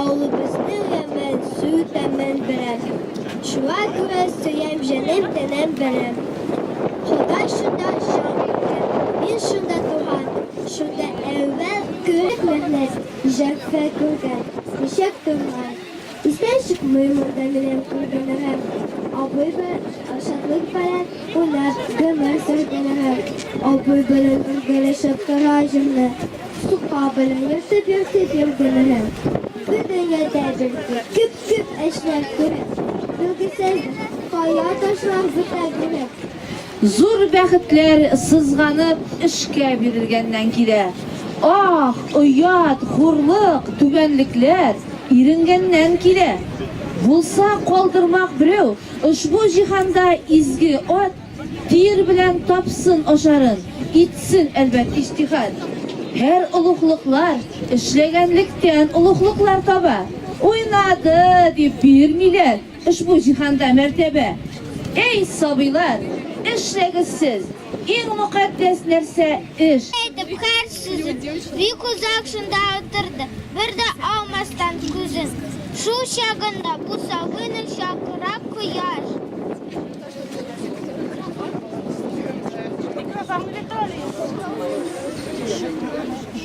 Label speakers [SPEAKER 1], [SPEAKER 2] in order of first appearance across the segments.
[SPEAKER 1] Авылыбызның әмен, су тәмен беләм. Шуңа күрә сөям җанем тәнем беләм. Ходай шунда җан иткән, мин шунда туган. Шунда әүвәл күреп мәхнәт, җәффа күргән, ничек тормай. Истән чыкмый монда минем күргәннәрем. Абый бер шатлык белән уйнап гомер сөргәннәрем. Абый белән бергәләшеп тора җимне. Сукка белән йөртеп йөртеп йөргәннәрем. Бу дөньяда безгә күп-күп эшләр кирәк. Билгесез кая ташлар бетә генә. Зур
[SPEAKER 2] бәхетләр сызганып эшкә бирелгәннән килә. Ах, оят, хурлык, түбәнлекләр иренгәннән килә. Булса калдырмак берәү ошбу җиһанда изге ат, тир белән тапсын ашарын, итсен, әлбәт, иҗтиһат. Һәр олуглыклар эшләгәнлектән олуглыклар таба. Уйнады дип бирмиләр. Ошбу җиһанда мәртәбә. Әй, сабыйлар, эшләгез сез! Иң мөкатдәс нәрсә, эш! Әйтеп, хәл
[SPEAKER 1] сүзен. Бик озак шунда утырды, бер дә алмастан күзен. Шул чагында бусагыны чакыра кояш. Микрофон, Виталий!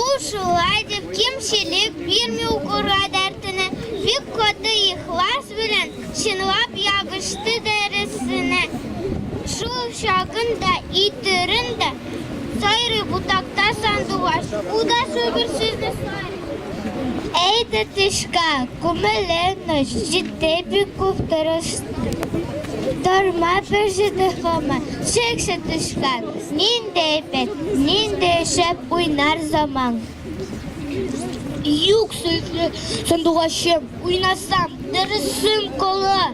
[SPEAKER 1] Ул шулай дип кимчелек бирми укырга дәртенә, бик каты ихлас белән чынлап ябышты дәресенә. Шул чагын да итерен дә сайрый бутакта сандугач. Ул да шубер сүзне Әйдә тышка, күмеле ночь, җитте бик күп тырышты. Торма бер җитә хама, чексе тышка. Нинди әйбәт, нинди шәп уйнар заман. Юк сөйкле сандугачым, уйнасам, дөресем кола.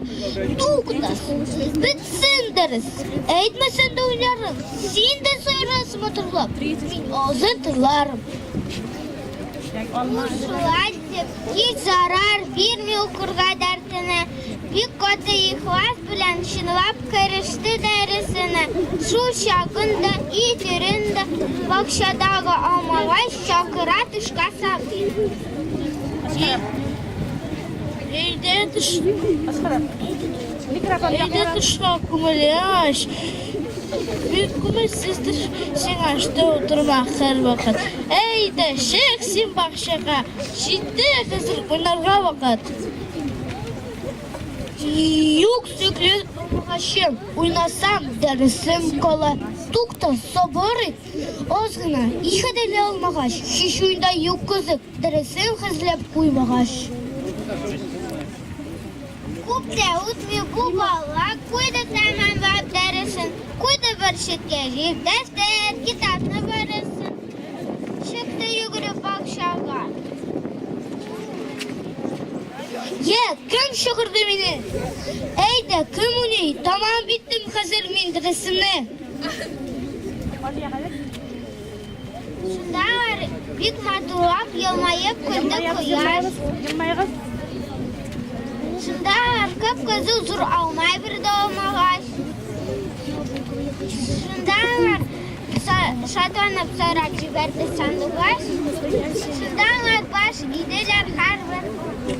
[SPEAKER 1] Туктасын, бетсен дөрес. Әйтмәсен дә уйларым, син дә сайрас матурлап. Мин азы тыларым. Шулай дип Һич зарар бирми укырга дәртенә, бик каты ихлас белән чынлап кереште дәресенә. Шул чагында и төрендә бакчадагы алмалай чакыра төшкә сабый. Өйдә төш... Микрофон Өйдә төшлә күңеле аш. Бик күңелсез төш сиңа, что утырма һәрвакыт. Әйдә, чык син бакчага, җитте хәзер уйнарга вакыт. Юк сөкле булмагачым, уйнасам дәресем кала. Тукта, сабыр ит, аз гына, ихадәле алмагач, һич уйда юк кызык, дәресен хәзләп куймагач. Күптә үтми бу бала куйды тәмамлап дәресен, куйды бер читкә җир дәфтәр, китапны барысын. Чыкты йөгереп бакчага. Йә, кем чыгырды мине? Әйдә, кем уйный? Тамам биттем хәзер мин дәресемне. Шундалар бик матурлап елмаеп көлде кояш. Елмайгыз. Шундалар кып кызыл зур алма бер дә алмагач. Шундалар шатланып сорап җибәрде сандугач. Шунда алар баш иделәр һәрбер